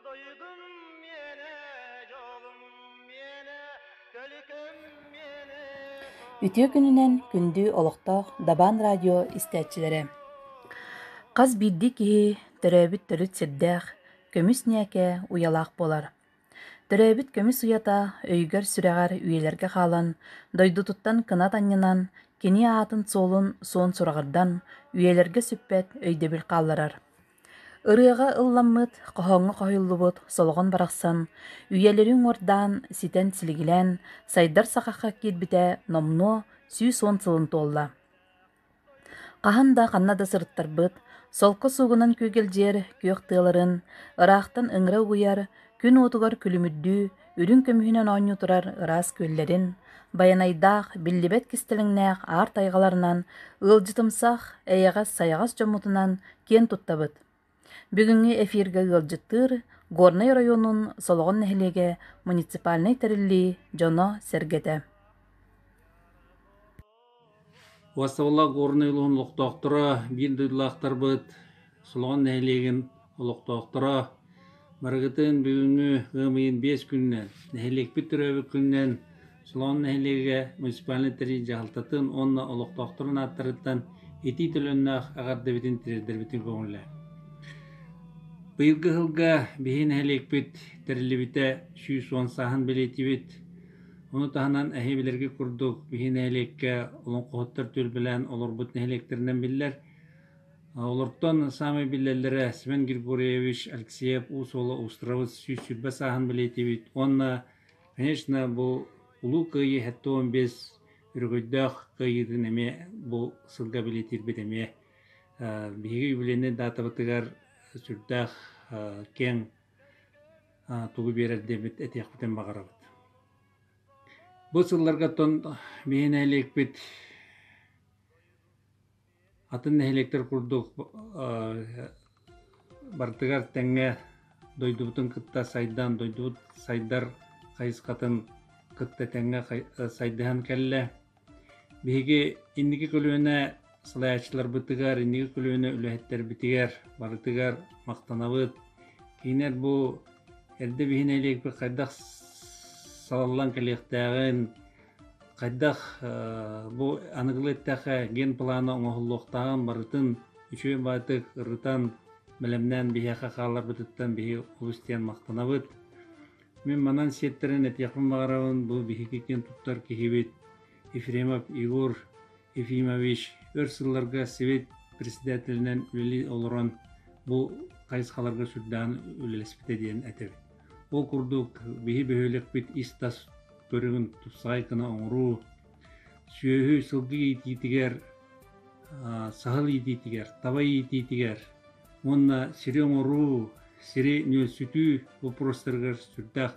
Дойдум миэнэ, дьолум миэнэ, төлүкүм миэнэ. Үтүө күнүнэн күндүү олохтоох Дабаан радио истээччилэрэ! Хас биирдии киһи төрөөбүт төрүт сирдээх, көмүс ньээкэ уйалаах буолар. Төрөөбүт көмүс уйата өйгөр-сүрэҕэр үйэлэргэ хаалан, дойдутуттан кынат анньынан, кини аатын-суолун суон сураҕырдан, үйэлэргэ сүппэт өйдөбүл хаалларар. Ырыаҕа ылламмыт, хоһооҥҥо хоһуйуллубут Солоҕон барахсан үйэлэри уҥуордаан, ситэн-силигилээн сайдар сахахха киирбитэ номнуо сүүс уон сылын туолла. Хаһан да ханна да сырыттарбыт, солко суугунан күөгэлдьиэр күөх тыаларын, ыраахтан ыҥыра угуйар, күн уотугар күлүмүрдүү, үрүҥ көмүһүнэн оонньуу турар ыраас күөллэрин, байанайдаах, биллибэт кистэлэҥнээх аар тайҕаларынан, ыалдьытымсах, эйэҕэс-сайаҕас дьоммутунан киэн туттабыт. Бүгүҥҥү эфиргэ ыалдьыттыыр Горнай оройуонун Солоҕон нэһилиэгэ муниципальнай тэриллии дьоно-сэргэтэ Уостабыллаах Горнай улууһун олохтоохторо, биир дойдулаахтарбыт Солоҕон нэһилиэгин олохтоохторо, барыгытын бүгүҥҥү ыам ыйын биэс күнүнэн, нэһилиэкпит төрөөбүт күнүнэн Солоҕон нэһилиэгэ муниципальнай тэрил дьаһалтатын уонна олохтоохторун ааттарыттан итии төлөннөөх эҕэрдэбитин тириэрдэрбитин көҥүллээн. Быйылгы сылга биһи нэһилиэкпит тэриллибитэ сүүс уон сааһын бэлиэтиибит. Ону таһынан эһи билэргэ курдук биһи нэһилиэккэ олоҥхоһуттар түөлбэлээн олорбут нэһилиэктэринэн биллэр. Олортон саамай биллэллэрэ Семен Григорьевич Алексеев уус уола Устравыт сүүс сүүрбэ сааһын бэлиэтиибит уонна, конечно, бу Улуу Кыайыы сэттэ уон биэс өрөгөйдөөх кыайыытын эмиэ бу сылга бэлиэтиирбит эмиэ биһиги юбилейнай даатабытыгар сүрдээх киэҥ тугу биэрэр диэбит этиэхпитин баҕарабыт. Бу сылларгаттан биһи нэһилиэкпит атын нэһилиэктэр курдук барытыгар тэҥҥэ дойдубутун кытта сайдан, дойдубут сайдар хайысхатын кытта тэҥҥэ сайдыһан кэллэ. Биһиги инники көлүөнэ салайааччыларбытыгар, инники көлүөнэ үлэһиттэрбитигэр барытыгар махтанабыт. Кинилэр бу эрдэ биһи нэһилиэкпит хайдах салаллан кэлиэхтээҕин, хайдах бу аныгылы эттэххэ ген планы оҥоһуллуохтааҕын барытын үчүгэй баатык ырытан, бэлэмнээн биһиэхэ хааларбытыттан биһи олус диэн махтанабыт. Мин манан сиэттэрэн этиэхпин баҕарабын бу биһиги киэн туттар киһибит Ефремов Егор Ефимович өр сылларга Совет председателинэн үлэлии олорон бу хайысхаларга сүрдээн үлэлэспитэ диэн этэбит. Ол курдук биһи бөһүөлэкпит ис-тас көрүҥүн тупсаҕай гына оҥоруу, сүөһү сылгы иитиитигэр, саһыл иитиитигэр, таба иитиитигэр, уонна сири оҥоруу, сири нүөлсүтүү боппуруостарыгар сүрдээх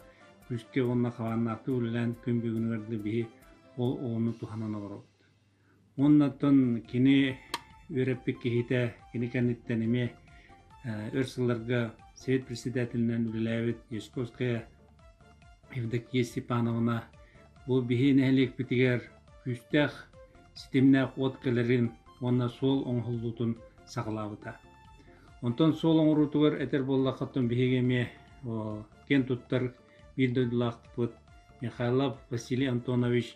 күүскэ уонна хабааннаахтык үлэлээн күн бүгүнүгэр да биһи ол оҕону туһанан олоробут. Уоннаттан кини үөрэппит киһитэ, кини кэнниттэн эмиэ өр сылларга Совет председателинэн үлэлээбит Ясковская Евдокия Степановна бу биһи нэһилиэкпитигэр күүстээх, ситимнээх уот кэлэрин уонна суол оҥоһуллуутун саҕалаабыта. Онтон суол оҥоруутугар этэр буоллаххытына биһиги эмиэ киэн туттар биир дойдулаахпыт Михайлов Василий Антонович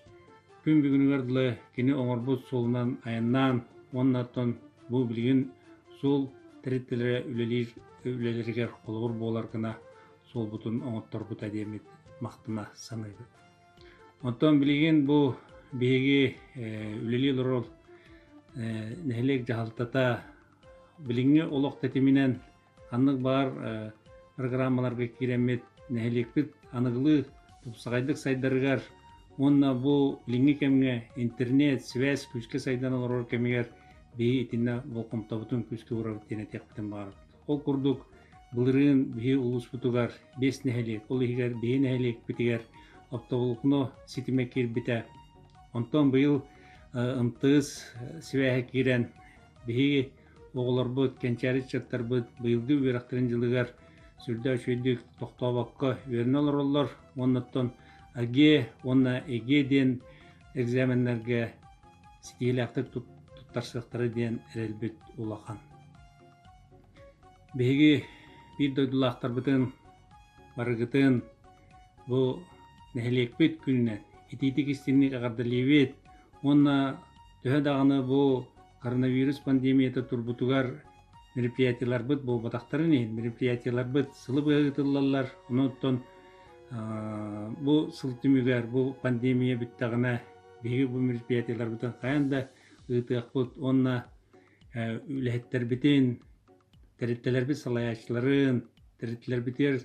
күн бүгүнүгэр дылы кини оҥорбут суолунан айаннаан уонна оттон бу билигин суол тэрилтэлэрэ үлэлиир үлэлэригэр холобур буолар гына суолбутун оҥотторбута диэммит махтана саныыбыт. Оттон билигин бу биһиги үлэлии олорор нэһилиэк дьаһалтата билиҥҥи олох тэтиминэн ханнык баар программаларга киирэммит нэһилиэкпит аныгылыы тупсаҕайдык сайдарыгар уонна бу билиҥҥи кэмҥэ интернет, связь күүскэ сайдан олорор кэмигэр биһи итиннэ болҕомтобутун күүскэ уурабыт диэн этиэхпитин баҕарабыт. Ол курдук, былырыын биһи улууспутугар биэс нэһилиэк, ол иһигэр биһи нэһилиэкпитигэр оптоволокно ситимэ киирбитэ. Онтон быйыл ымтыыс сибээһэ киирэн, биһиги оҕолорбут, кэнчээри ыччаттарбыт быйылгы үөрэхтэрин дьылыгар сүрдээх үчүгэйдик тохтообокко үөрэнэ олороллор уонна оттон АГЕ уонна ЭГЕ диэн экзаменнэргэ ситиһиилээхтик туттарсыахтара диэн эрэлбит улахан. Биһиги биир дойдулаахтарбытын барыгытын бу нэһилиэкпит күнүнэн итиитик-истиҥник эҕэрдэлиибит уонна төһө даҕаны бу коронавирус пандемията турбутугар мероприятиеларбыт буолбатахтарын иһин мероприятиеларбыт сылы быһа ыытыллаллар онон бу сыл түмүгэр бу пандемия бүттэҕинэ биһиги бу мероприятиеларбытын хайаан да ыытыахпыт уонна үлэһиттэрбитин, тэрилтэлэрбит салайааччыларын, тэрилтэлэрбитигэр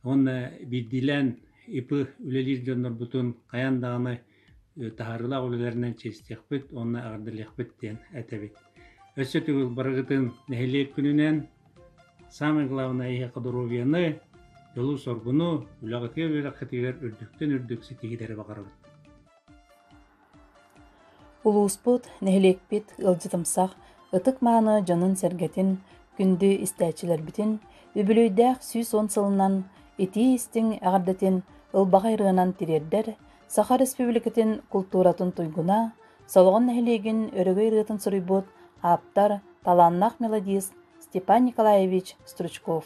уонна биирдиилээн ИПы үлэлиир дьоннорбутун хайаан даҕаны таһаарыылаах үлэлэринэн чиэстиэхпит уонна эҕэрдэлиэхпит диэн этэбит. Өссө төгүл барыгытын нэһилиэк күнүнэн, самое главное эһиэхэ доруобуйаны, дьолу-соргуну, үлэҕитигэр-үөрэххитигэр үрдүктэн үрдүк ситиһиилэри баҕарабыт. Улууспут, нэһилиэкпит ыалдьытымсах, ытык-мааны дьонун-сэргэтин, күндү истээччилэрбитин, үбүлүөйдээх сүүс уон сылынан итии-истиҥ эҕэрдэтин ылбаҕай ырыанан тириэрдэр Саха Республикатын култууратын туйгуна, Солоҕон нэһилиэгин өрөгөй ырыатын суруйбут ааптар, талааннаах мелодист Степан Николаевич Стручков.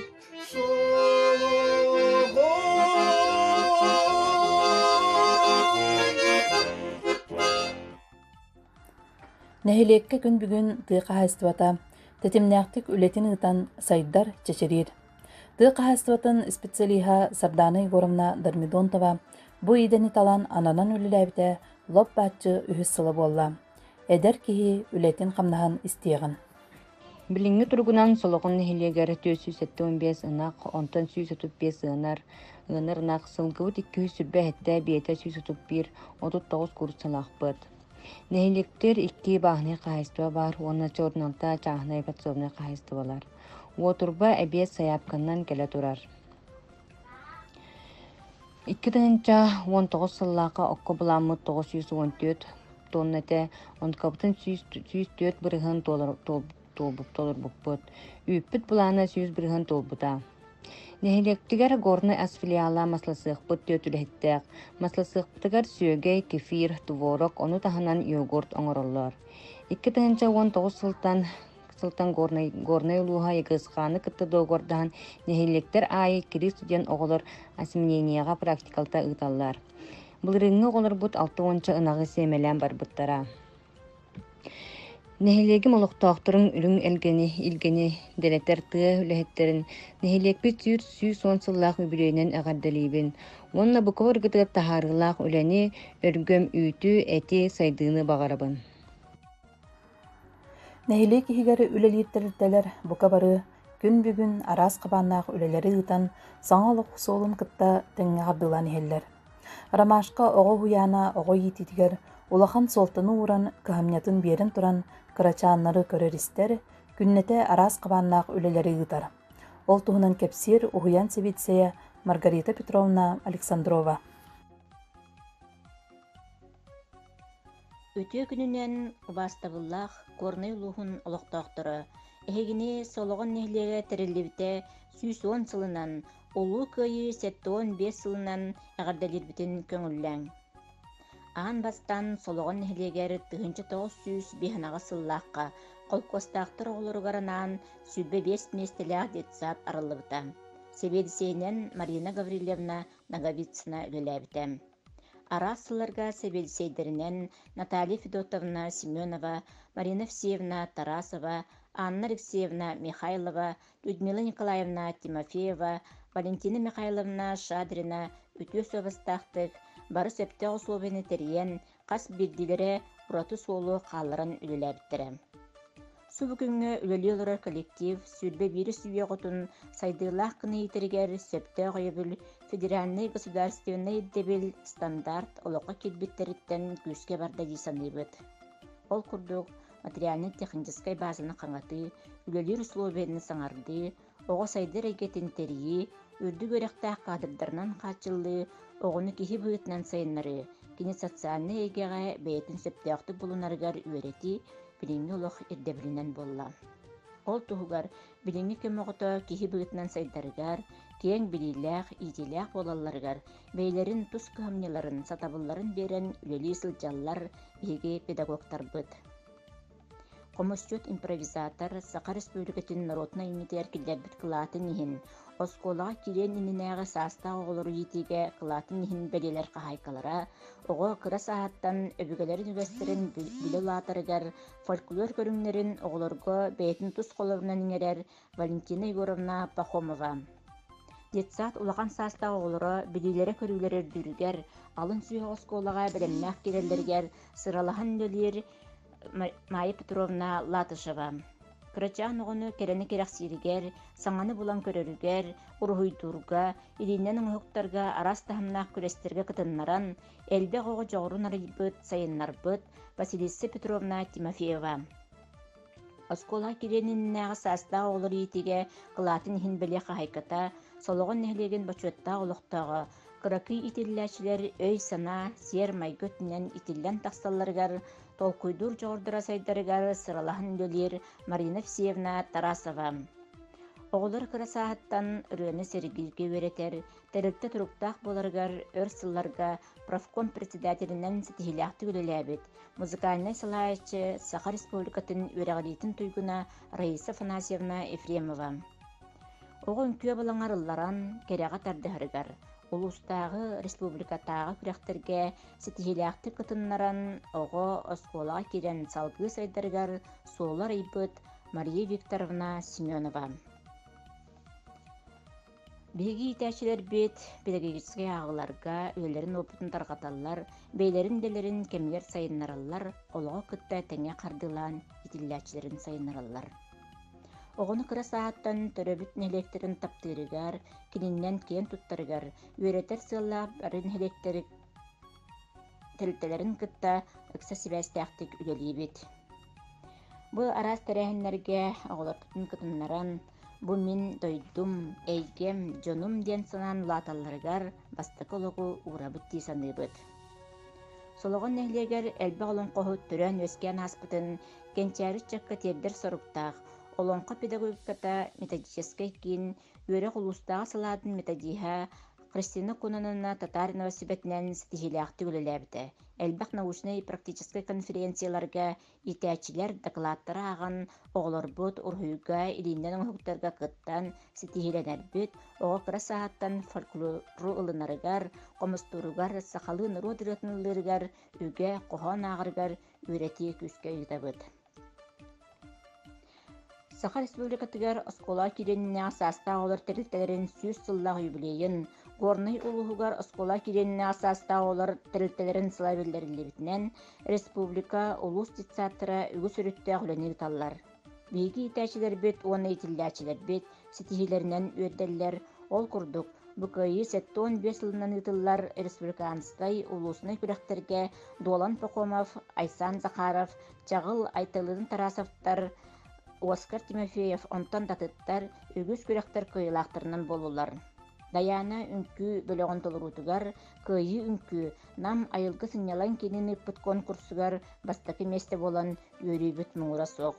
Нэһилиэккэ күн бүгүн тыа хаһаайыстыбата тэтимнээхтик үлэтин ыытан сайдар, чэчириир. Тыа хаһаайыстыбатын специалиһа Сардаана Егоровна Дармидонтова бу идэни талан ананан үлэлээбитэ лоп бааччы үһүс сыла буолла. Эдэр киһи үлэтин-хамнаһын истиэҕин. Билиҥҥи туругунан Солоҕун нэһилиэгэр түөрт сүүс сэттэ уон биэс ынах, онтон сүүс отут биэс ыанар, ыанар ынах, сылыҥкыбыт икки үс сүрбэ сэттэ, биэтэ сүүс отут биир, отут тоҕус куурус санаахпыт. Нэһилиэктэр икки бааһынай хаһаайыстыба баар уонна Чорнанта чааһынай подсобнай хаһаайыстыбалар. Уотурба эбиэс сайаапканан кэлэ турар. Икки тыһыынча уон тоҕус сыллаахха окко былааммыт тоҕус сүүс уон түөрт туонна этэ онкабытын сүүс сүүс түөрт бырыһын туолбут толорбуппут үүппүт былаана сүүс бырыһын туолбута нэһилиэктигэр горнай ас филиала масласыахпыт түөрт үлэһиттээх масласыахпытыгар сүөгэй кефир творог ону таһынан йогурт оҥороллор икки тыһыынча уон тоҕус сылтан сылтан Горнай, Горнай улууһа Егыскааны кытта договордаһан нэһилиэктэр аайы кириис студент оҕолор осминенияҕа практикалта ыыталлар. Былырыыҥҥы оҕолорбут алта уонча ынаҕы сиэмэлээн барбыттара. Нэһилиэгим олохтоохторун үрүҥ элгэни, илгэни дэлэтэр тыа үлэһиттэрин нэһилиэкпит сүүс сүүс уон сыллаах үбүлүөйүнэн эҕэрдэлиибин уонна буква ыргытыгар таһаарыылаах үлэни, өргөм үүтү, эти, сайдыыны баҕарабын. Нэһилиэк иһигэр үлэлиир тэрилтэлэр бука бары күн бүгүн араас хабааннаах үлэлэри ыытан саҥа олох суолун кытта тэҥҥэ хардыылаан иһэллэр. Ромашка оҕо уһуйаана оҕо иитиитигэр улахан суолтаны ууран кыһамньытын биэрэн туран кырачааннары көрөр-истэр, күннэтэ араас хабааннаах үлэлэри ыытар. Ол туһунан кэпсиир уһуйаан сэбиэдиссэйэ Маргарита Петровна Александрова. Үтүө күнүнэн убаастабыллаах Горнай улууһун олохтоохторо! Эһигини Солоҕон нэһилиэгэ тэриллибитэ сүүс уон сылынан, Улуу Кыайыы сэттэ уон биэс сылынан эҕэрдэлиирбитин көҥүллээҥ! Аан бастаан Солоҕон нэһилиэгэр тыһыынча тоҕус сүүс биэһэнаҕыс сыллаахха холкуостаахтар оҕолоругар анаан сүүрбэ биэс миэстэлээх детсад арыллыбыта. Сэбиэдиссэйинэн Марина Гаврильевна Ноговицына үлэлээбитэ. араас сылларга сэбиэдиссэйдэринэн наталья федотовна семенова марина всевна тарасова анна алексеевна михайлова людмила николаевна тимофеева валентина михайловна шадрина үтүө суобастаахтык бары сөптөөх усулуобуйаны тэрийэн хас биирдиилэрэ ураты суолу хаалларан үлэлээбиттэрэ Субу күҥҥэ үлэлии олорор коллектив сүүрбэ биирис үйэҕутун сайдыылаах гына иитэригэр сөптөөх өйөбүл, федеральнай государственнай ирдэбил, стандарт олоххо киирбиттэриттэн күүскэ барда дии саныыбыт. Ол курдук, материальнай-техническэй баазаны хаҥатыы, үлэлиир усулуобуйаны саҥардыы, оҕо сайдар эйгэтин тэрийии, үрдүк үөрэхтээх кадрдарынан хааччыллыы, оҕону киһи быһыытынан сайыннарыы, кини социальнай эйгэҕэ бэйэтин сөптөөхтүк булунарыгар үөрэтии билиҥҥи олох ирдэбилинэн буолла. Ол туһугар билиҥҥи кэм оҕото киһи быһыытынан сайдарыгар, киэҥ билиилээх, иитиилээх буолалларыгар бэйэлэрин тус кыһамньыларын, сатабылларын биэрэн үлэлии сылдьаллар биһиги педагогтарбыт. Хомусчут импровизатор Саха Республикатын норуотунай иннитигэр киллэрбит кылаатын иһин, оскуолаҕа киириэн иннинээҕи саастаах оҕолору иитиигэ кылаатын иһин бэлиэлэр хаһаайкалара, оҕо кыра сааһыттан өбүгэлэрин үгэстэрин билэ улаатарыгар фольклор көрүҥнэрин оҕолорго бэйэтин тус холобурунан иҥэрэр Валентина Егоровна Пахомова. Детсад улахан саастаах оҕолоро билиилэрэ-көрүүлэрэ үрдүүрүгэр, алын сүһэ оскуолаҕа бэлэмнээх киирэллэригэр сыралаһан үлэлиир Майя Петровна Латышева. Кырачаан оҕону кэрэни кэрэхсииригэр, саҥаны булан көрөрүгэр, уруһуйдуурга, илииннэн оҥоһуктарга араас таһымнаах күрэстэргэ кытыннаран, элбэх оҕо дьоҕурун арыйбыт, сайыннарбыт Василиса Петровна Тимофеева. Оскуола кириэниннээҕи саастаах оҕолор иитиигэ кылаатын иһин бэлиэ хаһаайката, Солоҕон нэһилиэгин бочуоттаах олохтооҕо, кыракый иитиллээччилэр өй-санаа, сиэр-майгы өттүнэн итиллэн тахсалларыгар, толкуйдуур дьоҕурдара сайдарыгар сыралаһан үлэлиир Марина Всевна Тарасова. Оҕолор кыра сааһыттан ырыаны сэргииргэ үөрэтэр, тэрилтэ туруктаах буоларыгар өр сылларга профком председателинэн ситиһиилээхтик үлэлээбит, музыкальнай салайааччы, Саха Республикатын үөрэҕириитин туйгуна Раиса Афанасьевна Ефремова. Оҕо үҥкүө балаҥар ылларан, кэрэҕэ тардыһарыгар, улуустааҕы, республикатааҕы күрэхтэргэ ситиһиилээхтик кытыннаран, оҕо оскуолаҕа киирэн салгыы сайдарыгар суоллар ыйбыт Мария Викторовна Семенова. Биһиги иитээччилэрбит педагогическай ааҕыыларга үлэлэрин уопутун тарҕаталлар, бэйэлэрин идэлэрин кэмигэр сайыннараллар, олоҕу кытта тэҥҥэ хардыылаан итиллээччилэрин сайыннараллар. Оҕону кыра сааһыттан төрөбүт нэһилиэктэрин таптыырыгар, кининэн киэн туттарыгар, үөрэтэр сыаллаах бары нэһилиэктэр тэрилтэлэрин кытта ыкса сибээстээхтик үлэлиибит. Бу араас тэрээһиннэргэ оҕолорбутун кытыннаран, Бу мин дойдум, эйгэм, дьонум диэн санаан улааталларыгар бастакы олоҕу уурабыт дии саныыбыт. Солоҕон нэһилиэгэр элбэх олоҥхоһут төрөөн-үөскээн ааспытын кэнчээри ыччакка тиэрдэр соруктаах Олоҥхо педагогиката методическай киин үөрэх улуустааҕы салаатын методиһа Кристина Кунанова татаар Новосибэтинэн ситиһиилээхтик үлэлээбитэ, элбэх научнай-практическай конференцияларга Иитээччилэр дакылааттары ааҕан, оҕолорбут уруһуйга, илииннэн оҥоһуктарга кыттан, ситиһиилэнэрбит, оҕо кыра сааһыттан фольклору ылынарыгар, хомустууругар, сахалыы норуот ырыатын ыллыырыгар, үгэ хоһоон ааҕарыгар үөрэтии күүскэ ыытабыт. Саха Республикатыгар оскуола кириэниннээх саастаах оҕолор тэрилтэлэрин сүүс сыллаах юбилейын Горнай улууһугар оскуола кириэниннээх саастаах оҕолор тэрилтэлэрин сыла биллэриллибитинэн республика, улуус детсаадтара үгүс өрүттээх үлэни ыыталлар. Биһиги иитээччилэрбит уонна иитиллээччилэрбит ситиһиилэринэн үөрдэллэр. Ол курдук, бу кыайыы сэттэ уон биэс сылынан ыытыллар республиканскай улууснай күрэхтэргэ Дуолан Пахомов, Айсаан Захаров, Чаҕыл Айталыын Тарасовтар, Оскар Тимофеев онтон датыттар үгүс күрэхтэр кыайыылаахтарынан буоллулар. Дайаана үҥкүү бөлөҕүн толоруутугар Кыайыы үҥкүү Нам айылгы сынньалаҥ киинин ыыппыт конкурсугар бастакы миэстэ буолан үөрүүбүт муҥура суох.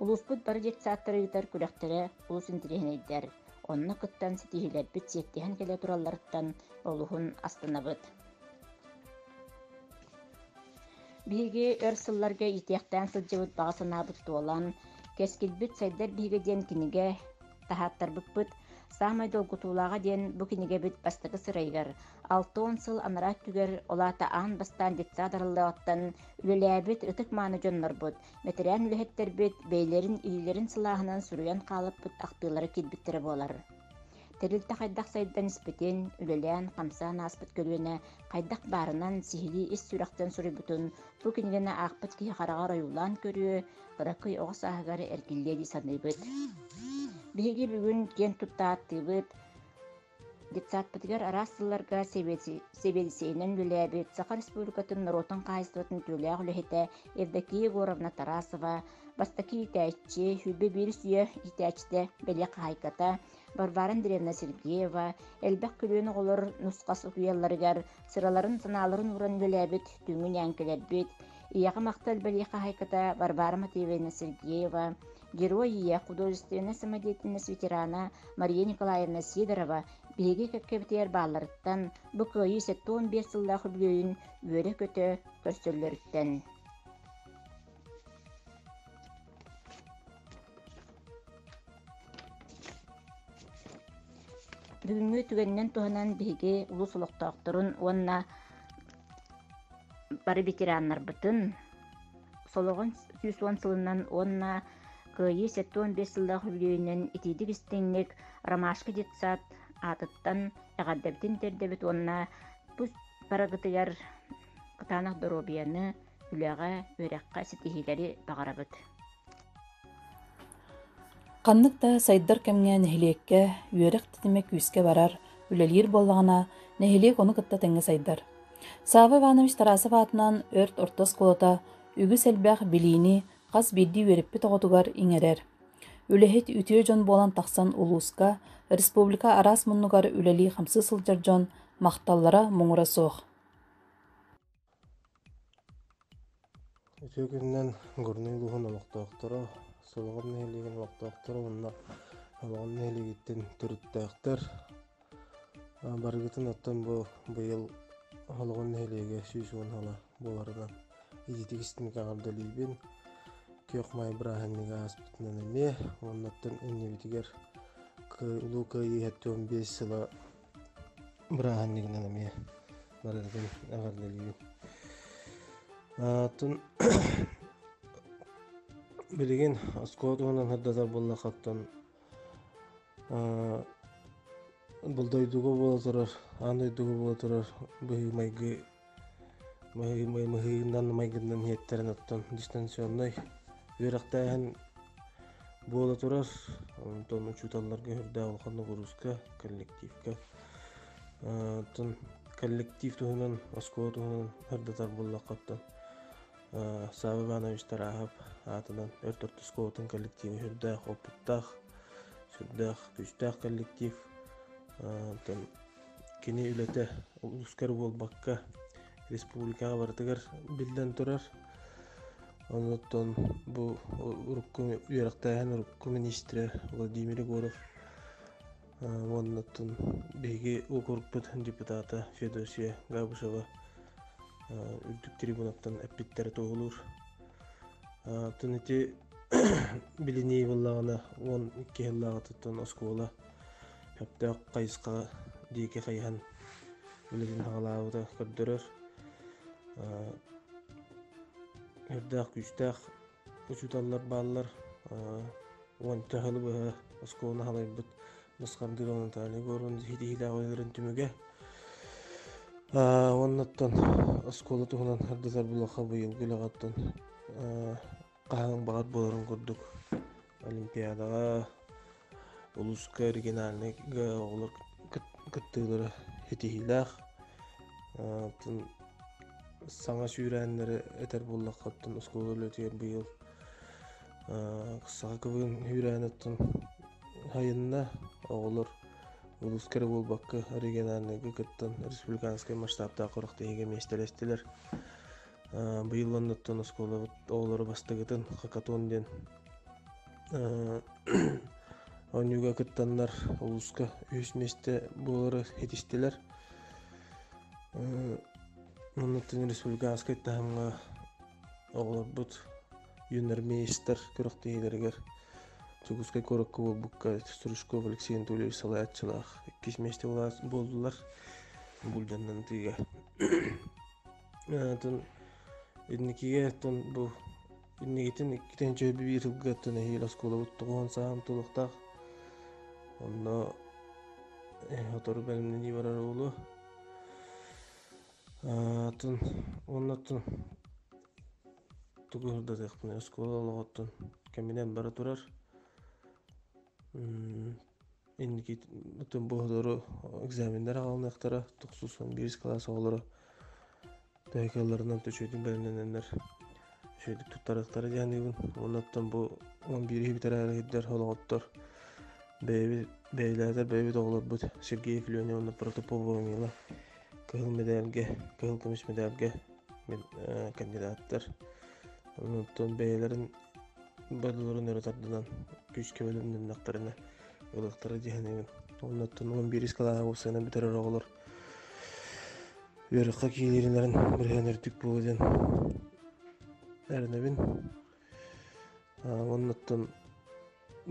Улууспут бары детсадтары ыытар күрэхтэрэ олус интириэһинэйдэр. Онно кыттан ситиһиилэрбит сиэттиһэн кэлэ туралларыттан олуһун астынабыт. Биһиги өр сылларга иитиэхтээн сылдьыбыт баҕа санаабыт туолан, Кэскилбит сайдар биһиги диэн кинигэ таһааттарбыппыт «Саамай долгутуулааҕа» диэн бу кинигэбит бастакы сырайыгар алта уон сыл анараа өттүгэр, ол аата аан бастаан детсад арыллыаҕыттан үлэлээбит ытык-мааны дьоннорбут, бэтэрээн үлэһиттэрбит бэйэлэрин илиилэрин сылааһынан суруйан хаалыппыт ахтыылара киирбиттэрэ буолар. Тэрилтэ хайдах сайдан испитин, үлэлээн-хамсаан ааспыт көлүөнэ хайдах баарынан сиһилии ис сүрэхтэн суруйбутун бу кинигэни аахпыт киһи хараҕар ойуулаан көрүө, ыракый оҕо сааһыгар эргиллиэ дии саныыбыт. Биһиги бүгүн киэн туттааттыыбыт детсадпытыгар араас сылларга сэбиэдиссэйинэн үлэлээбит Саха Республикатын норуотун хаһаайыстыбатын үтүөлээх үлэһитэ Евдокия Егоровна Тарасова, бастакы иитээччи, сүүрбэ биир үйэ иитээччитэ, бэлиэ хаһаайката, Варвара Андреевна Сергеева элбэх күлүөн оҕолор нусхас утуйалларыгар сыраларын-санааларын ууран үлэлээбит, түҥүн ээҥкилэрбит, ийэҕэ махтал бэлиэ хаһаайката Варвара Матвеевна Сергеева, герой ийэ, художественнай самодеятельность ветерана Мария Николаевна Сидорова биһиги кэккэбитигэр баалларыттан бу кыайыы сэттэ уон биэс сыллаах үбүлүөйүн үөрэ-көтө көрсөллөрүттэн. Бүгүҥҥү түгэнинэн туһанан биһиги улуус олохтоохторун уонна бары ветераннарбытын солоҕон сүүс уон сылынан уонна кыайыы сэттэ уон биэс сыллаах үбүлүөйүнэн итиитик истиҥник Ромашка детсад аатыттан эҕэрдэбитин тиэрдэбит уонна тус барыгытыгар кытаанах доруобуйаны үлэҕэ, үөрэххэ ситиһиилэри баҕарабыт. Ханнык да сайдар кэмҥэ нэһилиэккэ үөрэх тэтимэ күүскэ барар, үлэлиир буоллаҕына, нэһилиэк ону кытта тэҥҥэ сайдар. Сава Иванович Тарасов аатынан Өрт орто оскуолата үгүс элбэх билиини хас биирдии үөрэппит оҕотугар иҥэрэр. Үлэһит үтүө дьон буолан тахсан улууска, республика араас муннугар үлэлии-хамсыы сылдьар дьон махталлара муҥура суох. Үтүө күнүнэн Горнай улууһун олохтоохторо, Солоҕор нэһилиэгин олохтоохторо уонна Олоҕор нэһилиэгиттэн төрүттээхтэр. Барыгытын оттон бу быйыл Олоҕор нэһилиэгэ сүүс уон ыала буоларынан ититик истимик эҕэрдэлиибин. Күөх Маай бырааһынньыга ааспытынан эмиэ, оннуттан иннибитигэр Улуу Кыайыы сэттэ уон биэс сыла бырааһынньыгынан эмиэ барыытын эҕэрдэлиибин атын билигин оскуола туһунан сырдатар буоллаххыттан бұл дойдуга буола турар аан дойдуга буола турар быһыы майгы мыһыыннан майгыннан иһиттэрэн оттон дистанционнай үөрэхтээһин буола турар онтон учууталларга үрдээх улахан ноҕурууска коллективка оттон коллектив туһунан оскуола туһунан ырдатар буоллахха оттон Сава Иванович Тарахов аатынан өр төрүт оскуолатын коллектива сүрдээх опыттаах сүрдээх күүстээх коллектив оттон кини үлэтэ улуускар буолбакка республикаҕа барытыгар биллэн турар онуттан бу урукку үөрэхтээһин урукку министрэ владимир егоров уоннаттан биһиги урукпут депутата феодосия габышева үрдүк трибунаттан эппиттэрэ туоһулуур атын ити билинии быллаҕына уон икки сыллааҕытыттан оскуола Өптөөх хайысхаҕа диэки хайыһан үлэтин аҕалаабыта көрдөрөр. Өрдөөх күүстээх учууталлар бааллар. Уонта хылы быһа оскуоланы халайбыт Баскардыыр Наталья Горун ситиһиилээх ойууларын түмүгэ. Уоннаттан оскуола туһунан ардытар булаха быйылгы үлэҕэттэн хаһыҥ баҕат буоларын курдук олимпиадаҕа улууска региональнайга оҕолор кыттыылара ситиһиилээх саҥа сүүрээннэри этэр буоллахха оттон оскуола үлэтигэр быйыл саха квн үүрээн оттон сайынна оҕолор улууска эрэ буолбакка региональнайга кыттан республиканскай масштабтаах харах тиһигэ миэстэлэстилэр быйылланныттан оскуолабыт оҕолору бастакытын хакатон диэн оонньууга кыттаннар улууска үһүс миэстэ буолары итистилэр манныттан республиканскай таһымҥа оҕолорбут юннар мейстер күрэхтэһиилэригэр Дьокуускай куоракка буолбукка Стручков Алексей Анатольевич салайааччылаах иккис миэстэ буоллулар бульданнан ытыыга атын инникигэ оттон бу инникитин иккитин чөй биир сылга оттон эһиил оскуолабыт тоҕуон сааһым тулуктаах онно сотору бэлэмнэнии барар уолу атын оннотун тугу сырдатыахпын оскуола олоҕоттон кэминэн бара турар инникитин быһылары экзаменнар аҕалыныахтара тохсусон биир кылаас оҕолоро төһөкөлөрүнэн төчүөтүн бэлэмнэнэннэр үчүгэйдик туттарыахтара диэниибин уонуттан бу он биири бүтэрээри сирдэр олоҕоттор бэйэбит бэйэлээтэр бэйэбит оҕолорбут сергей клюня уонна протопопова мила кыһыл медальга кыһыл көмүс медальга кандидаттар онтон бэйэлэрин бодолорун өрө тардынан күүскэ бэлэмнэннэхтэринэ ылыктары дьэһэнэбин оннуттан он бирис кылааһа уопсайынан бүтэрэр оҕолор үөрөххө киириилэрин бырыһан үрдүк буолуо диэн эрэнэбин оннуттан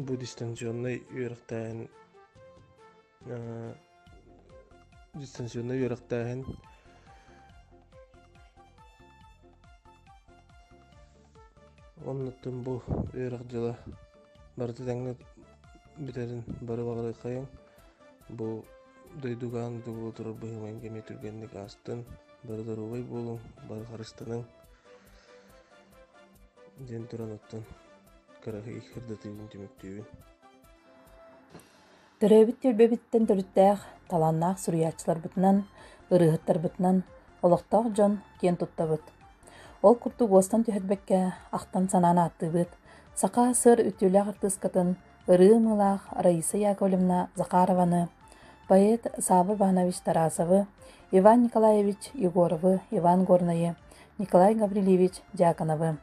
бу дистанционный үөрэхтээһин дистанционно үөрэхтээһин оннуттан бу үөрэх дьыла барыта тэҥҥэ бүтэрин бары баҕарыххайыҥ бу дойдугаан дуу турар быһыымаҥ кэми түргэнник аастын бары доруобай буолуҥ бары харыстаныҥ диэн туран оттон кыраһый кырдатыыбын түмүктүүбүн Төрөөбүт түөлбэбиттэн төрүттээх, талааннаах суруйааччыларбытынан, ырыаһыттарбытынан олохтоох дьон киэн туттабыт. Ол курдук уостан түһэрбэккэ ахтан-санаан ааттыыбыт саха сыр үтүөлээх артыыскатын ырыа ымыылаах Раиса Яковлевна Захарованы, поэт Саабы Иванович Тарасовы, Иван Николаевич Егоровы, Иван Горнайы, Николай Гаврильевич Дьяконовы,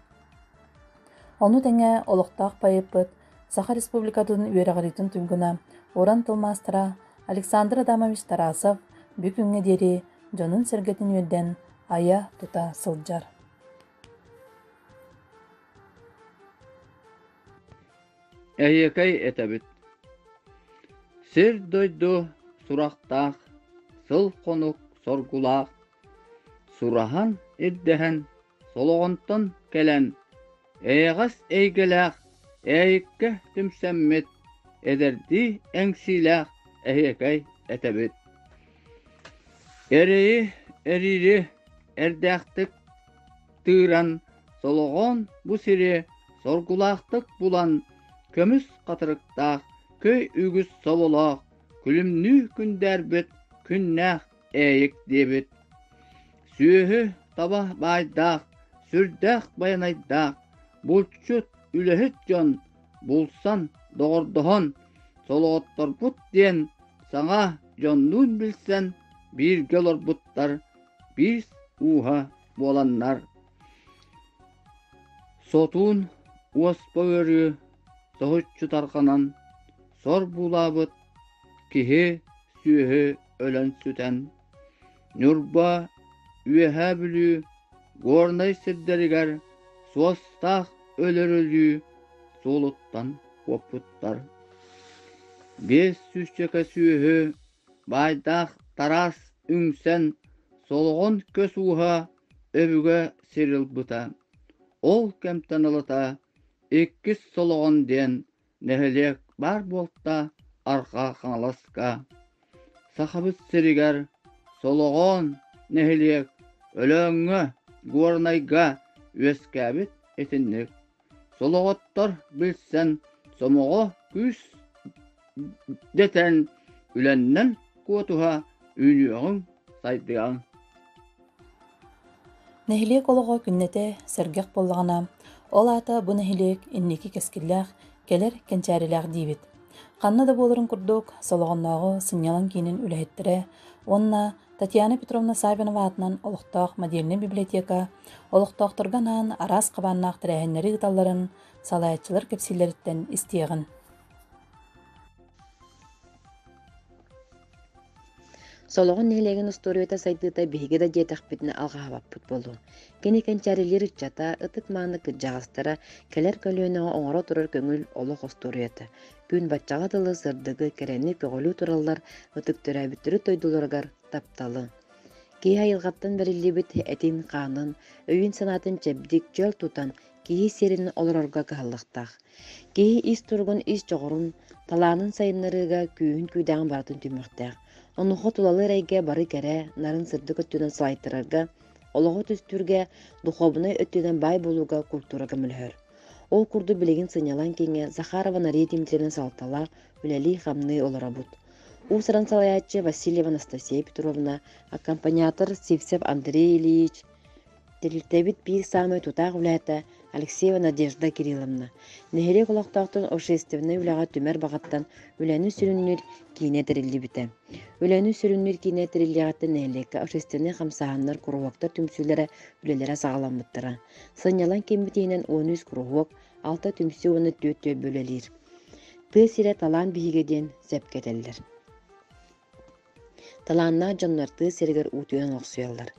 Ону тэҥэ олохтоох поэппыт, Саха Республикатын үөрэҕириитин туйгуна, уран тыл маастара Александр Адамович Тарасов бу күҥҥэ диэри дьонун-сэргэтин үөрдэн, айа-тута сылдьар. Эһиэкэй этэбит Сир-дойду сурахтаах, сыл-хонук соргулаах Сураһан ирдэһэн Солоҕонтон кэлэн эйэҕэс эйгэлээх Эйиккэ түмсэммит эдэрдии эҥсиилээх эһиэкэй этэбит Эрэйи эрири эрдээхтик тыыран Солоҕон бу сири соргулаахтык булан көмүс хатырыктаах көй үгүс соболоох күлүмнүү күндээрбит күннээх Эйик диэбит Сүөһү таба баайдаах, сүрдээх байанайдаах, булчут, үлэһит дьон, булсан, доҕордоһон, солоҕотторбут диэн саҥа дьоннуун билсэн бииргэ олорбуттар биир ууһа буоланнар сотуун уоспа ыарыы соһуччу тарҕанан сор буулаабыт Киһи сүөһү өлөн сүтэн, Ньурба, Үөһээ Бүлүү, Горнай сирдэригэр суостаах өлөрүлүү суолуттан куоппуттар. Биэс сүүсчэкэ сүөһү баайдаах тараас үҥсэн солоҕон көс ууһа өбүгэ сир ылбыта. Ол кэмтэн ылата иккис солоҕон диэн нэһилиэк баар буолта Арҕаа Хаҥаласка Сахабыт сиригэр Солоҕоон нэһилиэк Өлөөҥҥө Горнайга үөскээбит итинник Солоҕоттор билсэн сомоҕо күүс дэтэн үлэннэн куотуһа үүнүөҕүҥ сайдыаҥ Нэһилиэк олоҕо күннэтэ сэргэх буоллаҕына, ол аата бу нэһилиэк инники кэскиллээх, кэлэр кэнчээрилээх диибит. Ханна да буоларын курдук, Солоҕоннооҕу сынньалаҥ киинин үлэһиттэрэ уонна Татьяна Петровна Савинова аатынан олохтоох модельнай библиотека олохтоохторго анаан араас хабааннаах тэрээһиннэри ыыталларын салайааччылар кэпсииллэриттэн истиэҕиҥ. Солоҕун нэһилиэгин устуоруйата сайдыыта биһиги да диэтэхпитинэ алҕаһабаппыт буолуо. Кини кэнчээрилиир ыччата, ытык-мааны кырдьаҕастара, кэлэр көлүөнэҕэ оҥоро турар көҥүл олох остуоруйата, күн баччаҕа дылы сырдыгы, кэрэни көҕүлүү тураллар, ытык төрөөбүт төрүт дойдуларыгар тапталы. Киһи айылҕаттан бэриллибит этин-хаанын, өйүн-санаатын чэбдик, чөл тутан, киһи сиэрин олорорго кыһаллыктаах. Киһи ис туругун, ис дьоҕурун, талаанын сайыннарыыга күүһүн күүдэҕин барытын түмүөхтээх. Онуоха тулалы эрэйгэ бары кэрэ, нарын сырдык өттүнэн салайтарарга, олоҕу түстүүргэ, духуобунай өттүнэн баай буолууга культура көмөлөһөр. Ол курдук билигин сынньалаҥ киҥҥэ Захарова Нария Дмитриевна салалтала үлэлии-хамныы олоробут. Уусаран салайааччы Васильева Анастасия Петровна, аккомпаниатор Сивцев Андрей Ильич, Тэрилтэбит биир саамай тутаах үлэһитэ Алексеева Надежда Кирилловна, нэһилиэк олохтоохтун общественнай үлэҕэ түмэр баҕаттан үлэни сүрүннүүр киинэ тэриллибитэ. Үлэни сүрүннүүр киинэ тэриллиэҕиттэн нэһилиэккэ общественнай хамсааһыннар, куруһуоктар түмсүүлэрэ, үлэлэрэ саҕаламмыттара. Сынньалаҥ кииммит иһинэн он үс куруһуок, алта түмсүү уонна түөрт түөлбэ үлэлиир. Тыа сирэ талаан биһигэ диэн сөпкө этэллэр. Талааннаах дьон артыыс сиригэр уу түһэн охсуйаллар.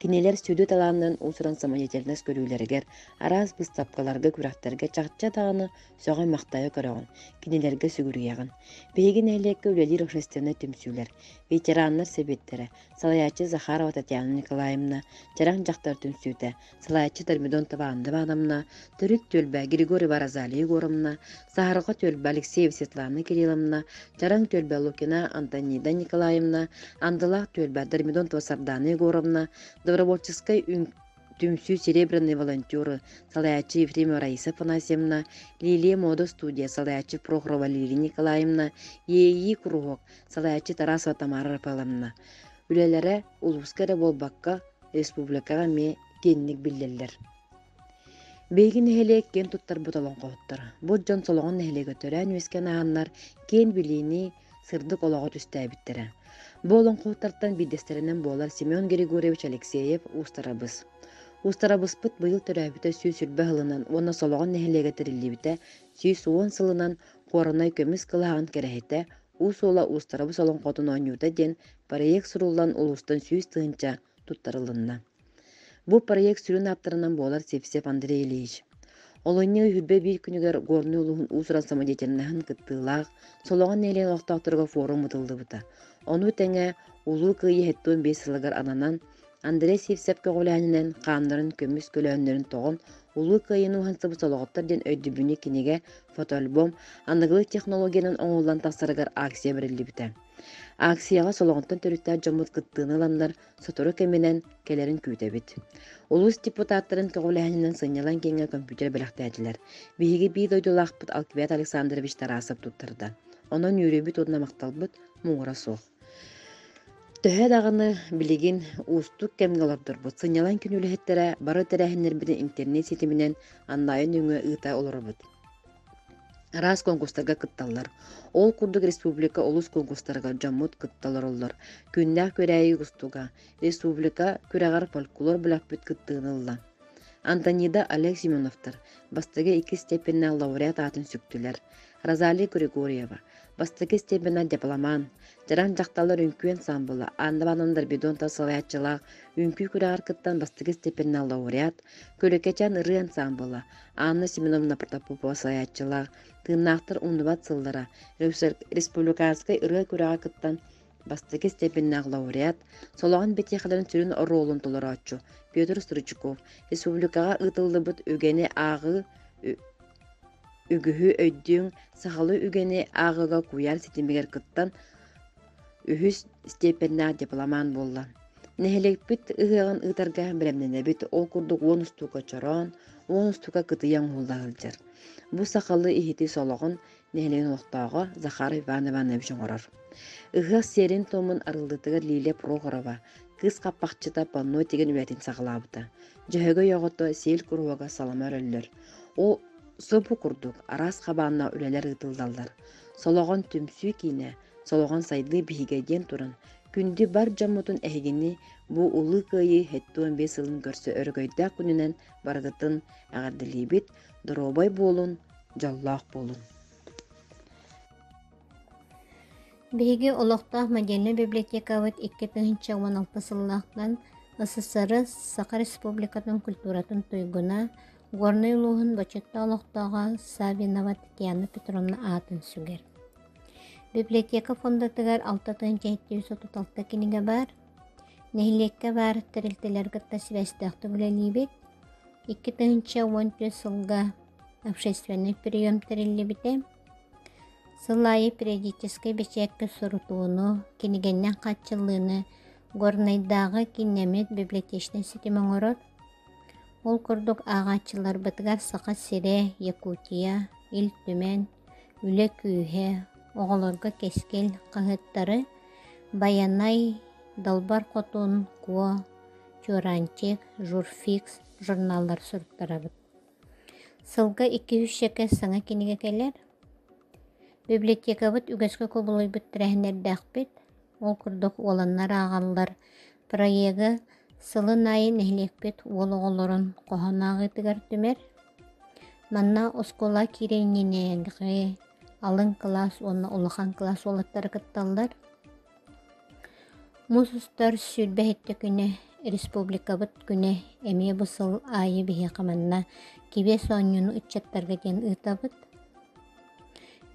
Кинилэр сүдү талааннарын уусуран самодеятельность көрүүлэригэр, араас быыстапкаларга, күрэхтэргэ чахчы даҕаны сөҕөн-махтайа көрөҕүн, кинилэргэ сүгүрүйэҕин. Биһиги нэһилиэккэ үлэлиир общественнай түмсүүлэр, ветераннар сэбиэттэрэ, салайааччы Захарова Татьяна Николаевна, Чараҥ дьахтар түмсүүтэ, салайаччы Дормидон Табаанды Ивановна, төрүт түөлбэ Григорьева Розалия Егоровна, саһарҕа түөлбэ Алексеева Светлана Кирилловна, Чараҥ түөлбэ Лукина Антонида Николаевна, Андылаах түөлбэ Дормидонтова Сардана Егоровна, Добровольческай түмсүү Серебряные волонтеры салайаччы Ефремова Раиса Афанасьевна, Лилия Мода студия салайаччы Прохорова Валерия Николаевна, Иэйии куруһуок салайаччы Тарасова Тамара Рафаэловна. Үлэлэрэ улууска эрэ буолбакка, республикаҕа эмиэ киэнник биллэллэр. Биһиги нэһилиэк киэн туттарбыт олоҥхоһуттара. Бу дьон Солоҕон нэһилиэгэ төрөөн үөскээн ааһаннар киэн билиини, сырдык олоҕу түстээбиттэрэ. Бу олоҥхоһуттартан биирдэстэринэн буолар Семен Григорьевич Алексеев уустарабыс. Уустарабыспыт быйыл төрөөбүтэ сүүс сүүрбэ сылынан уонна Солоҕон нэһилиэгэ тэриллибитэ сүүс уон сылынан Куоранай көмүс кылааҕын кэрэһитэ Уус уола Уустарабыс олоҥхотун оонньуута диэн проект суруллан улуустан сүүс тыһыынча туттарылынна. Бу проект сүрүн ааптарынан буолар Сепсеп Андрей Ильич. Олунньу үһүрбэ биир күнүгэр Горнай улууһун уусуран самодеятельноһын кыттыылаах Солоҕон Нелен олохтоохторго форум ытыллыбыта. Ону тэҥэ улуу кыайыы 75 сылыгар ананан Андрей Сивцев көҕүлээһининэн хаамнарын көмүс көлөһүннэрин тоҕон Улуу Кыайыыны уһансыбыт солоҕоттор диэн өйдөбүнньүк кинигэ, фотоальбом аныгылыы технологиянан оҥоһуллан тахсарыгар акция бэриллибитэ. Акцияҕа солоҕонтон төрүттээх дьоммут кыттыыны ыланнар, сотору кэминэн кэлэрин күүтэбит. Улуус депутаттарын көҕүлээһининэн сынньалаҥ киэҥҥэ компьютер бэлэхтээтилэр. Биһиги биир дойдулаахпыт Алквиад Александрович Тарасов туттарда. Онон үөрүүбүт уонна махталбыт муҥура суох. Төһө даҕаны билигин уустук кэмҥэ олордорбут, сынньалаҥ күн үлэһиттэрэ бары тэрээһиннэрбитин интернет ситиминэн аннаайы нөҥүө ыыта олоробут. Араас конкурстарга кытталлар. Ол курдук республика олус кунгустарыгар дьоммут кытта олороллор. Күннээх күрээйи густуга. Республика күрэҕэр фольклор бөлөхпүт кыттыыны ылла. Антонида Олег Семеновтар бастакы икки степеннээх лауреат аатын сүктүлэр. Розалия Григорьева, бастакы степенэ дипломан, Дьараан дьахталлар үҥкүү ансаамбыла Анна Ивановна Дорбидонта салайааччылаах үҥкүү күрэҕэр кыттан бастакы степеннээх лауреат, Күлүкэчээн ырыа ансаамбыла Анна Семеновна Протопопова салайааччылаах «Тыыннаахтар умнубат сыллара» республиканскай ырыа күрэҕэ кыттан бастакы степеннээх лауреат, Солоҕон бэтиэхэлэрин сүрүн оруолун толорооччу Петр Стручков республикаҕа ыытыллыбыт үгэни ааҕыы үгүһү өйдүүҥ сахалыы үгэни ааҕыыга куйаар ситимигэр кыттан үһүс степеннээх дипломант буолла нэһилиэкпит ыһыаҕын ыытарга бэлэмнэнэбит ол курдук уон устуука чороон уон устуука кытыйа оҥоһулла сылдьар бу сахалыы иһити солоҕун нэһилиэгин олохтооҕо Захар Иван Иванович оҥорор. Ыһыах сиэрин-туомун арыллытыгар Лилия Прохорова, кыыс хаппахчыта панно тигэн үлэтин саҕалаабыта. Дьөһөгөй оҕото сиэл куруһуога салама өрөллөр. Ол сопу курдук араас хабаанна үлэлэр ыытыллаллар. Солоҕон түмсүү киинэ, Солоҕон сайдыы биһигэ диэн туран, күндү бар дьоммутун эһигини бу Улуу Кыайыы 75 сылын көрсө өрөгөйдөөх күнүнэн барыгытын эҕэрдэлиибит, доруобай буолун, дьоллоох буолун. Биһиги олохтоох модельнай библиотекабыт икки тыһыынча уон алта сыллаахтан СССР Саха Республикатын культуратын туйгуна, Горнай улууһун бочуоттаах олохтооҕо Савинова Татьяна Петровна аатын сүгэр. Библиотека фондатыгар алта тыһыынча сэттис отут алта кинигэ баар, Нэһилиэккэ баар тэрилтэлэри кытта сибээстээхтик үлэлиибит. Икки тыһыынча уон түөрт сылга общественнай прием тэриллибитэ. Сыл аайы периодическай бэчээккэ сурутууну, кинигэннэн хааччыллыыны Горнайдааҕы кииннэмит библиотечнай ситим оҥорор. Ол курдук ааҕааччыларбытыгар Саха сирэ, Якутия, Ил Түмэн, Үлэ күүһэ, оҕолорго кэскил хаһыаттары «Байанай», «Далбар хотун», «Куо», «Чуораанчык», «Журфикс» журналлар суруттарабыт. Сылга икки-үс шэкэ саҥа кинигэ кэлэр. Библиотекабыт үгэскэ кубулуйбут тэрээһиннэрдээхпит. Ол курдук уоланнар ааҕаллар проега сылын аайы нэһилиэкпит уол оҕолорун хоһоон ааҕыытыгар түмэр. Манна оскуола киирэ инженергэ алын кылаас уонна улахан кылаас уолаттара кытталлар. Мус устар сүүрбэһиттэ күнэ республикабыт күнэ эмиэ бу сыл аайы биһиэхэ манна кибиэс оонньууну ыччаттарга диэн ыытабыт.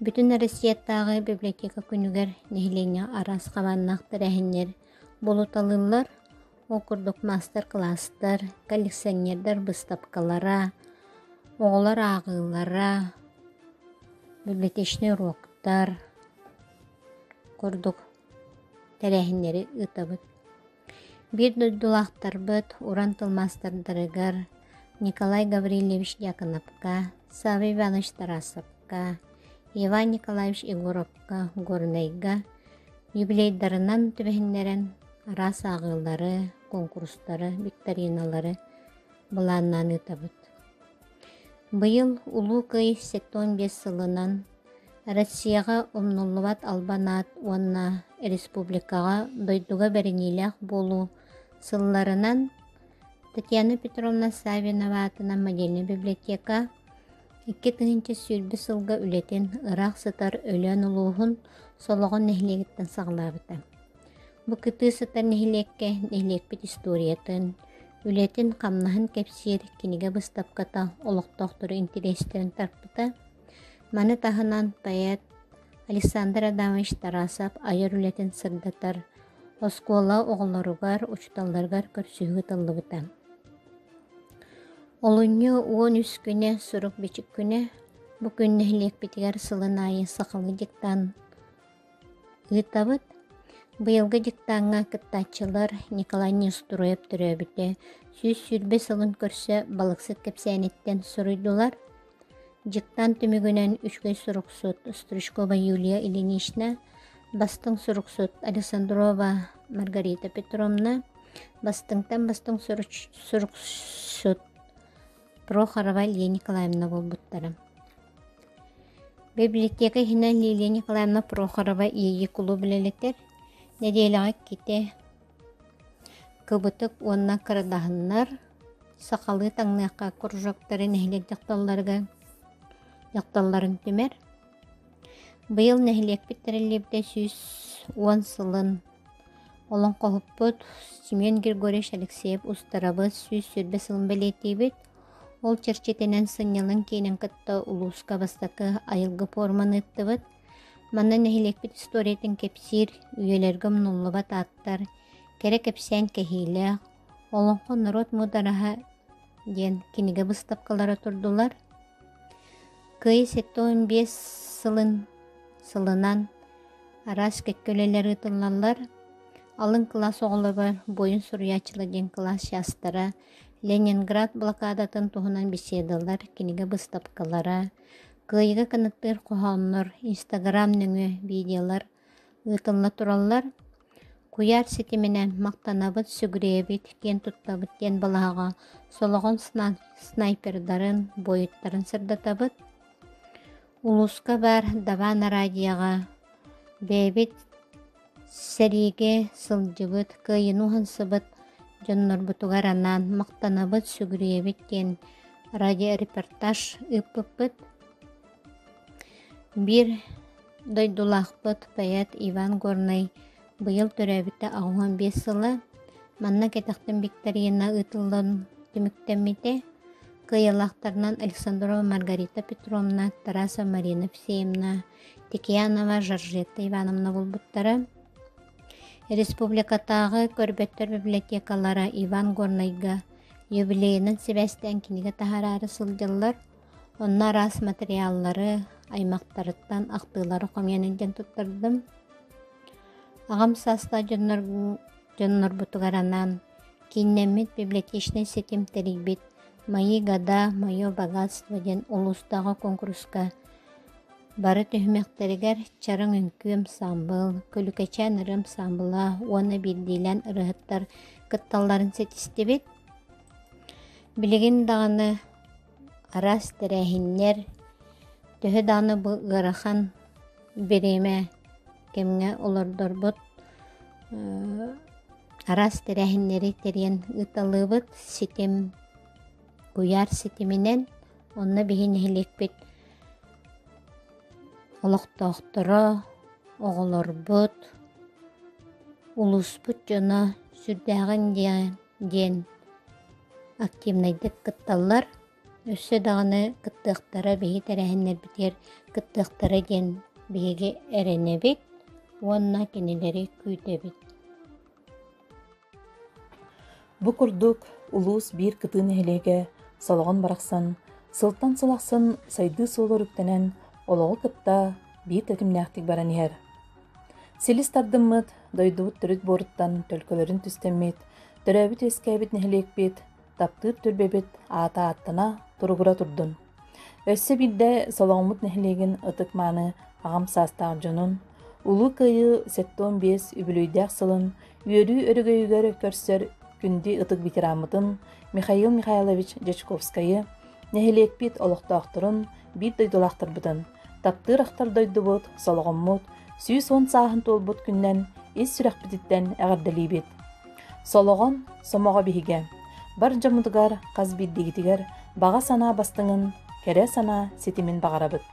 Бүтүн Россиятааҕы библиотека күнүгэр нэһилиэнньэ араас хабааннаах тэрээһиннэр буолуталыыллар. Ол курдук маастар-кылаастар, коллекционердар быыстапкалара, оҕолор ааҕыылара, библиотечный уруоктар курдук тэрээһиннэри ыытабыт. Биир дойдулаахтарбыт уран тыл маастардарыгар Николай Гаврильевич Дьяконовка, Савва Иванович Тарасовка, Иван Николаевич Егоровка, Горнайга юбилейдарынан түбэһиннэрэн араас ааҕыылары, куонкурустары, викториналары былааннаан ыытабыт. Быйыл Улуу Кый сэттэ уон биэс сылынан Россияҕа умнуллубат албан аат уонна республикаҕа дойдуга бэриниилээх буолуу сылларынан Татьяна Петровна Савинова аатынан модельнай библиотека икки тыһыынча сүүрбэ сылга үлэтин ыраах сытар Өлөөн улууһун Солоҕон нэһилиэгиттэн саҕалаабыта Бу кытыы сытар нэһилиэккэ нэһилиэкпит историятын, үлэтин-хамнаһын кэпсиир кинигэ быстапката олохтоохтору интэриэстэрин тарпыта. Маны таһынан поэт Александр Адамович Тарасов айар үлэтин сырдатар, оскуола оҕолоругар, учууталларыгар көрсүһүү ыытыллыбыта. Олунньу уон үс күнэ сорок-бичик күнэ бу күн нэһилиэкпитигэр сылын аайы сахалыы диктант Ыытабыт. Быйылгы диктаҥҥа кыттааччылар Николай Нестуруев төрөөбүтэ сүүс сүүрбэ сылын көрсө балыксыт кэпсээниттэн суруйдулар. Диктант түмүгүнэн үчүгэй суруксут Стручкова Юлия Ильинична, бастыҥ суруксут Александрова Маргарита Петровна, бастыҥтан бастыҥ суруксут Прохорова Лия Николаевна буолбуттара. Библиотека иһинэн Лилия Николаевна Прохорова иэйии кулууб үлэлэтэр, нэдиэлэҕэ ките кыбытык уонна кырадаһыннар, сахалыы таҥныахха кружоктары нэһилиэк дьахталларга дьахталларын түмэр, Быйыл нэһилиэкпит тэриллибитэ сүүс уон сылын олоҥхоһуппут Семен Григорьевич Алексеев устарабыт сүүс сүүрбэ сылын бэлиэтиибит. Ол чэрчитинэн сынньалаҥ киинин кытта улууска бастакы айылгы пуорманы ыыттыбыт. Манна нэһилиэкпит историятын кэпсиир, үйэлэргэ умнуллубат ааттар, кэрэ кэпсээн кэһиилээх «Олоҥхо норуот муудараһа» диэн кинигэ быстапкалара турдулар. Кыайыы сэттэ уон биэс сылын сылынан араас кэккэ үлэлэр ыытыллаллар. Алын кылаас оҕолоро, буойун суруйааччылар диэн кылаас чаастара Ленинград блокадатын туһунан беседалар, кинигэ быстапкалара, кыайыыга кынаттыыр хоһооннор, Инстаграм нөҥүө видеолар ыытылла тураллар. Куйаар ситиминэн махтанабыт, сүгүрүйэбит, киэн туттабыт диэн балаһаҕа солоҕон снайпердарын, буойуттарын сырдатабыт. Улууска баар Даван араадьыйаҕа бэйэбит сэриигэ сылдьыбыт, кыайыыны уһансыбыт дьоннорбутугар анаан махтанабыт, сүгүрүйэбит диэн радиорепортаж ыыппыппыт. Биир дойдулаахпыт поэт Иван Горнай быйыл төрөөбүтэ аҕуһун биэс сыла манна кэтэхтэн викторина ыытыллан түмүктэммитэ. Кыайылаахтарынан Александрова Маргарита Петровна, Тараса Марина Всеевна, Текиянова Жоржетта Ивановна булбуттара. Республикатааҕы көрбөттөр библиотекалара Иван Горнайга юбилейынан сибээстээн кинигэ таһараары сылдьаллар. Онно араас материаллары, аймактарыттан ахтыылары хоҥуйан илдьэн туттардым. Аҕам саастаах дьоннорбутугар анаан кииннэммит библиотечнай ситим тэрийбит «Мои года, мое богатство» диэн улуустааҕы куонкуруска бары түһүмэхтэригэр чараҥ үҥкүү ансаамбыл, Күлүкэчээн ырыа ансаамбыла уонна биирдиилээн ырыаһыттар кытталларын ситистибит. Билигин даҕаны араас тэрээһиннэр төһө даҕаны бу ыарахан бириэмэ кэмҥэ олордорбут араас тэрээһиннэри тэрийэн ыыталыыбыт ситим куйаар ситиминэн онно биһи нэһилиэкпит олохтоохторо оҕолорбут улууспут дьоно сүрдээҕин диэн диэн активнайдык кытталлар. Өссө даҕаны кыттыахтара биһи тэрээһиннэрбитигэр кыттыахтара диэн биһиги эрэнэбит уонна кинилэри күүтэбит. Бу курдук улуус биир кытыы нэһилиэгэ солоҕон барахсан сылтан сыл ахсын сайдыы суолур үктэнэн олоҕу кытта биир тэтимнээхтик баран иһэр. Силис тардыммыт дойдубут төрүт буоруттан төлкөлөрүн түстэммит, төрөөбүт-үөскээбит нэһилиэкпит, таптыыр түөлбэбит аата ааттана, туругура турдун. Өссө биирдэ Солоҥмут нэһилиэгин ытык-мааны аҕам саастаах дьонун, Улуу Кыайыы 75 үбүлүөйдээх сылын үөрүү өрөгөйүгэр көрсөр күндү ытык ветераммытын Михаил Михайлович Дьячковскайы, Нэһилиэкпит олохтоохторун, биир дойдулаахтарбытын, таптыыр ахтар дойдубут, солоҕоммут сүүс уон сааһын туолбут күннэн ис сүрэхпититтэн эҕэрдэлиибит! Солоҕон сомоҕо биһигэ, бар дьоммутугар, хас биирдигитигэр баҕа санаа бастыҥын, кэрэ санаа ситимин баҕарабыт.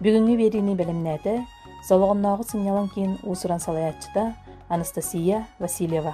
Бүгүҥҥү биэриини бэлэмнээтэ Солоҕоннооҕу сынньалаҥ киин уусуран салайааччыта Анастасия Васильева.